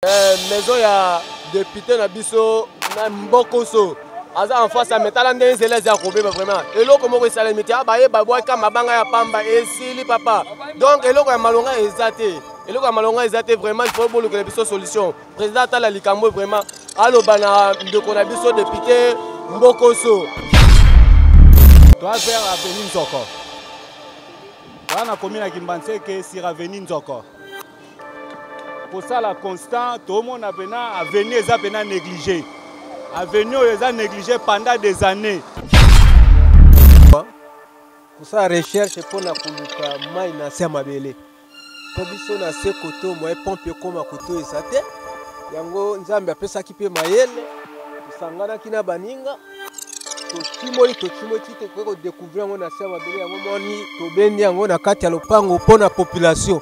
Eh, maison ya depute na biso na mbokoso aza en face ya metala nde nzela eza ya kobeba vraiment eloko moko esalemi te abaye babwaka mabanga ya pamba esili papa donc eloko ya malonga eza te eloko ya malonga eza te vraiment ifo bolukela biso solution président atala likambo vraiment aloba na ndeko na biso depute mbokoso toa vers aveni nzoko wana komi na kimbanseke sir aveni nzoko kosala constant tomona mpena avenue eza mpena néglige avenue oyo eza néglige pendant des années kosala recherche mpo na koluka mai na se ya mabele mpo biso na se koto moye pompe ekóma koto eza te yango nzambe apesaki mpe mayele tosanganaki na baninga totimoli totimoli ti tokoki kodekouvrir yango na se ya mabele yango moni tobendi yango na kati ya lopango mpo na population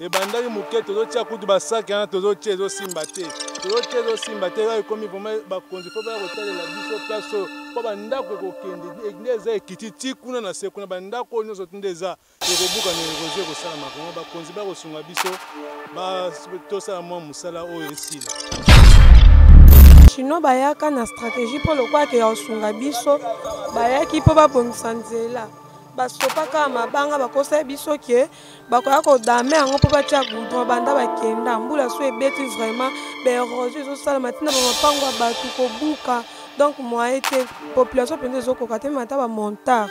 ebandaki moke tozotia kutu basaki wana tozotia ezosimba te tozotia ezosimba te oyo ekomi vraimen bakonzi fo baya kotalela biso place oyo mpo bandako ekokende e, nde eza ekiti ti kuna na se kuna bandako oyo nyonso nde eza ekobuka na erosion ekosalama vraimen bakonzi baya kosunga biso tosala mwa mosala oyo esila chinois bayaka na stratégie mpo lokola ke ya kosunga biso bayaki mpo babongisa nzela basopaka mabanga bakosa biso ke bakoya kodame yango mpo batya goudron banda bakenda mbula so ebeti vraiment baerosio ezosalama ntina bamapango ya bato kobuka donc moye te population mpenza ezokoka te meme ata bamontard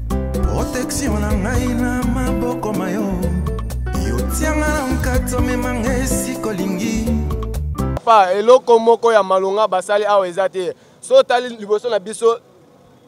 protection na ngai na maboko ma yo yotianga na nkati omemanga esika olingi papa eloko moko ya malonga basali awa eza te so otali liboso na biso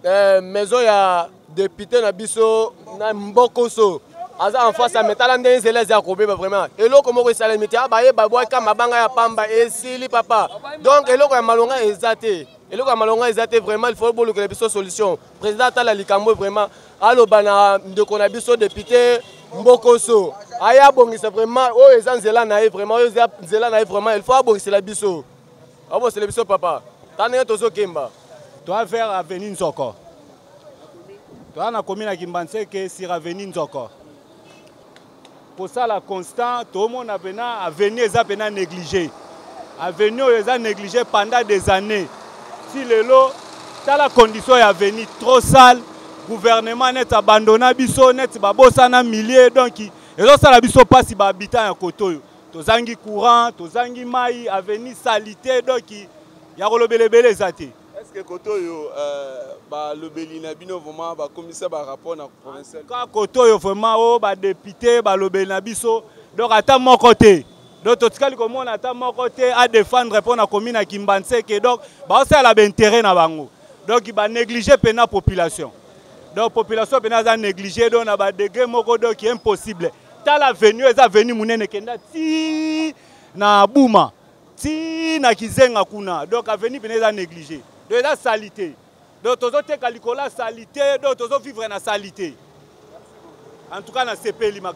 eh, maison ya depute na biso na mbokoso aza en face ya metala ndenge nzela eza ya kobeba vraiment eloko moko esalemi te abaye ah, babwaka mabanga ya pamba esili papa donc eloko ya malonga eza te eloko ya malonga eza te vraiment il faut bolukela biso solution Président atala likambo vraiment aloba na ndeko na biso député Mbokoso aya abongisa vraiment oyo eza nzela na ye vraiment oyo eza nzela na ye vraiment il faut abongisela biso abongisela biso papa ta ndenge tozokemba toa vers avenue nzoko toa na komi na kimbanseke sur avenue nzoko kosala constant tomona pena avenue eza pena négligé avenue oyo eza négligé pendant des années ti lelo tala condition ya avenue trop sale gouvernement neti abandona biso neti babosana milieu donc ezosala biso mpasi bahabitant ya kote oyo tozangi courant tozangi mai avenue salite donc ya kolobela ebele eza te Est-ce que koto oyo euh, balobeli na bino vraiment bakomisa ba rapport na provincial ka koto oyo vraiment o oh, ba député balobeli na biso donc ata moko te donc totikali komona ata moko te a défendre mpo na commune ya kimbanseke donc baosala baintérêt na bango donc banéglige mpena population donc population mpena aza néglige donc na badegré moko donc impossible tala venu eza venu monene kenda ti na buma ti na kizenga kuna donc avenue pene eza négligé donc eza salite donc tozoteka likolo ya salite donc tozovivre na salite en tout cas nasepeli mak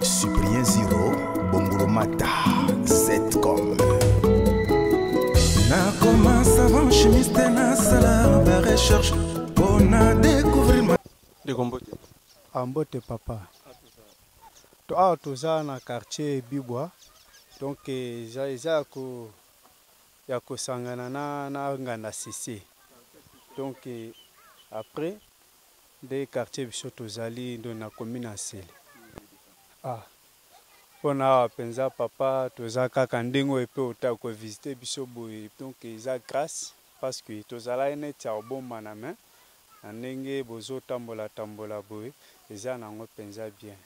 Cyprien Zero Bongolomata Zcom nakoma savant chimiste nasala ba recherche mpo na découvrir ma ndeko mbote ah, mbote papa awa ah, toza na quartier bibwa donc eza ya ko ya kosangana na, na nganda sese donc après Nde quartier biso tozali nde na commune ya Nsele. Ah pona awa penza papa toza kaka ndenge oyo pe ota ko visiter biso boye donc eza grace parce que tozalaki neti ya kobombana mais na ndenge bozo tambola tambola boye eza nango penza bien.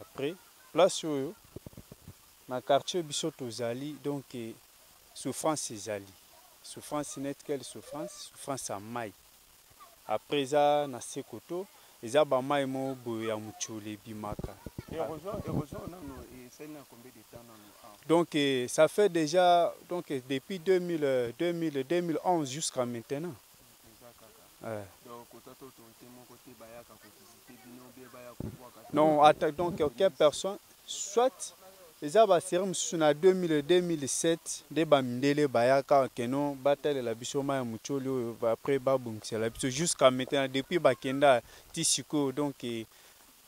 Après place oyo na quartier biso tozali donc souffrance ezali souffrance neti quelle souffrance? Souffrance ya mayi. après eza na se koto eza ba mai mo boye ya muchule ebimaka donc eh, ça fait déjà donc eh, depuis 2000, 2000, 2011 jusqu'à maintenant euh. non donc aucune personne Soit eza ba serie mususu na 2000 et 2007 nde ba mindele bayaka que non batalela biso mayi ya mutsholi oyo après ba bongisela biso jusqu'à maintenant depuis bakenda ti sikoyo donc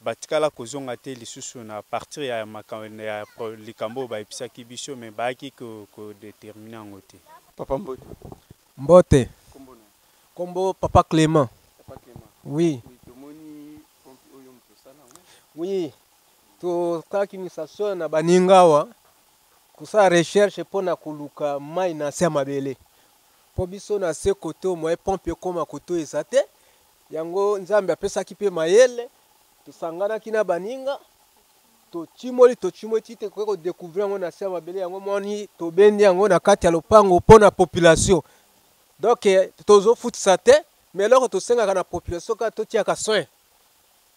batikala kozonga te lisusu na partir ya ya likambo oyo bayebisaki biso mais bayaki ko determiner yango te. Papa mbote. Mbote. Kombo na yo? Kombo papa Clement. Papa Clement. Oui. Oui tomoni pompe oyo mutu osala yango? Oui Tokaki misasona na baninga awa kosala recherche mpo na koluka mai na se ya mabele mpo biso na se koto moye pompe ekoma koto eza te yango nzambe apesaki mpe mayele tosanganaki na baninga totimoli totimoli ti te koki kodecouvrir yango na se ya mabele yango moni tobendi yango na kati ya lopango mpo na population donk tozofutisa te ma eloko tosengaka na population kaka totiaka soin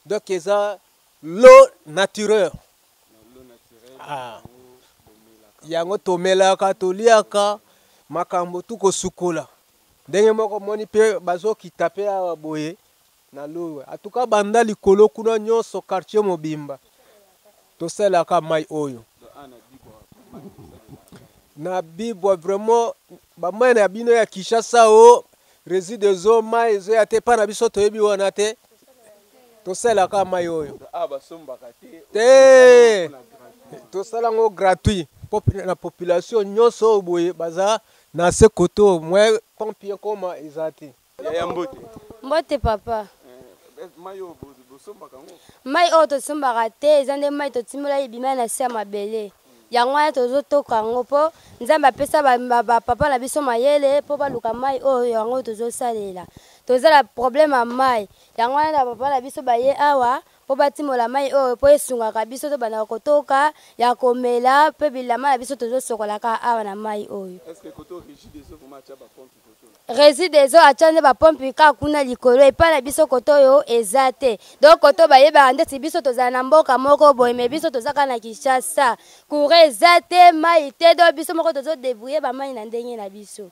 Donc eza l'eau naturelle. Ah. Yango tomelaka, toliaka makambo tu kosukola. Ndenge moko moni pe bazokita pe awa boye na lowe. Atuka banda likolo kuna nyonso quartier mobimba. Tosalaka mayi oyo na bibwa vraiment ba mayi na bino ya Kinshasa o oh, reside zo mayi zo ya te pa na biso toyebi wana te tosalaka mayi oyo ah, te tosala yango gratuit na population nyonso oyo boye baza na se koto mwe pompe ekoma eza te Yaya mbote. Mbote papa. Eh, eh, mai oyo bosombaka yango? Mai oyo tosombaka te, eza nde mai totimbola ebima na se ya mabele. Yango wana tozotoka yango mpo Nzambe apesa bapapa na biso mayele mpo baluka mai oyo yango tozosalela. Toza na problème ya mai, yango wana na papa na biso baye awa mpo batimola mai oyo mpo esungaka biso tobandaka kotoka ya komela mpe bilama na biso tozosokolaka awa na mai oyo. Est-ce que koto rigide ezo vraiment atia ba pompe Rezidezo atya nde bapompi kaka kuna likolo epai na biso kote oyo eza te donc kote oyo bayebaka ndeti biso tozala na mboka moko boye me biso toza kaka na kinshasa courant eza te mai te donc biso moko tozodebrouille bamai na ndenge na biso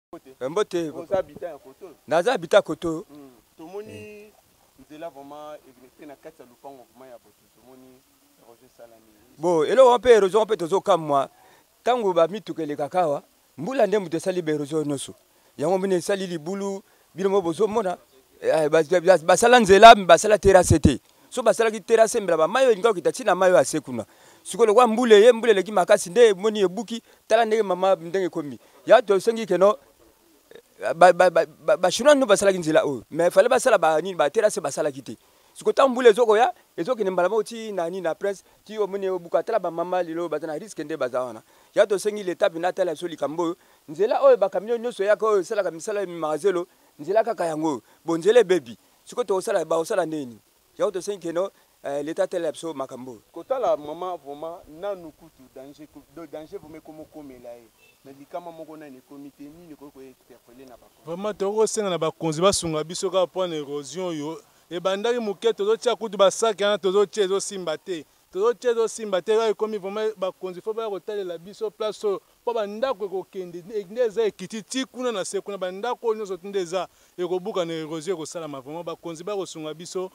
Eh, mbote oza habitant ya koto naza habitant koto hmm. tomoni eh. nzela vraiment egrete na kati ya lopango vraiment ya botu tomoni erosion esalami bo eloko wana mpe erosion mpe tozokamwa ntango bamituka elekaka awa mbula nde moto esali baerosion nyonso yango mine esali libulu bino mo bozomona eh, basala nzela basala terase te so basalaki terase mbela bamai oyo elingaki kokita ntina na mai oyo ase kuna sikoyo lokola mbula eye mbula eleki makasi nde emoni ebuki tala ndenge mama ndenge ekomi ya tosengi keno bachinois nde basalaki nzela oyo mais fale basala banini baterase basalaki te sikoyo ntango mbula ezokoya ezokende mbala moko ti na nini na prince ti omoni obuka tala bamama lelo baza na riske nde baza wana ya tosengi leta mpena atala biso likambo oyo nzela oyo bakamio nyonso eyaka oyo esalaka misala ememaka zelo nzela kaka yango oyo bonzela ebebi Siko tokosala bakosala nini? Yango tosengi keno eh, leta atalela biso makambo oyo. Kotala mama vraiment nanu kutu danger do danger vraiment ekomo komela ye mais likama moko nanu ekomi te nini ekoki ko interpeller na bakoni. Vraiment tokoki kosenga na bakonzi basunga biso kaka mpo na erosion oyo ebandaki moke tozotia kutu basaki wana tozotia ezosimba te tozotia ezosimba te kaka ekomi vraiment bakonzi fo baya kotalela biso place oyo Mpo bandako ekokende nde eza ekiti ti kuna na se kuna bandako oyo nionso nde eza ekobukana erosion ekosalama vraiment bakonzi baya kosunga biso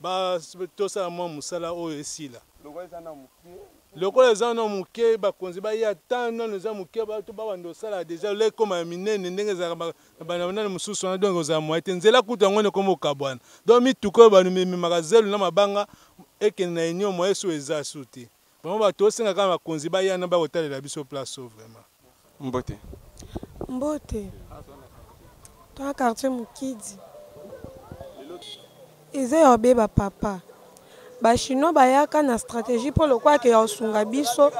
ba tosala mua musala oyo esila lokola eza nanu mukie lokola eza nanu mukie bakonzi baya temps nanu eza mukie bato babanda osala deja le ekoma ya minene ndenge ezalaka ba na bana banani mosusu wana donc ekozala moye te nzela kutu yango wana ekoma okabwana donc mituka oyo bamemaka zelo na mabanga ekende na union moye su eza su te Vraiment ba tosenga kaka bakonzi baya na bakotalela biso place oyo vraiment. Mbote. Mbote. Toa quartier Mukidi. Eza ya obeba papa. Ba chinois bayaka na strategie mpo lokola ke ya osunga biso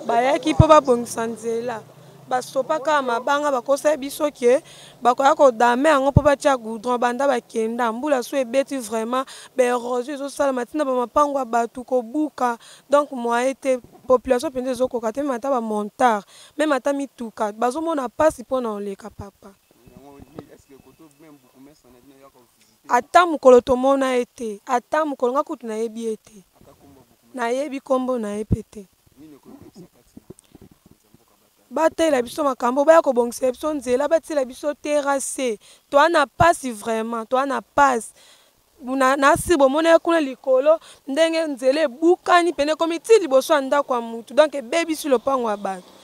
bayaki mpo babongisa nzela. basopa kaka mabanga bakosa biso ke bakoya kodame yango mpo batya goudron banda bakenda mbula so ebeti vraiment baerosio ezosalama ntina bamapango ya bato kobuka donc moye te population mpenza ezokoka te meme ata bamontare meme ata mituka bazomona mpasi mpo na oleka papa ata mokolo tomona ye te ata mokolo nga kutu nayebi ye te nayebi nkombo na ye mpe te Batalela biso makambo, baya kobongisela biso nzela, batiela biso terrasse. Toa na pasi vraiment, toa na pasi. Na, na si bomona ye kuna likolo ndenge nzela ebukani pene ekomi ti liboso ya ndako ya mutu donc ebebisi lopango ya bato.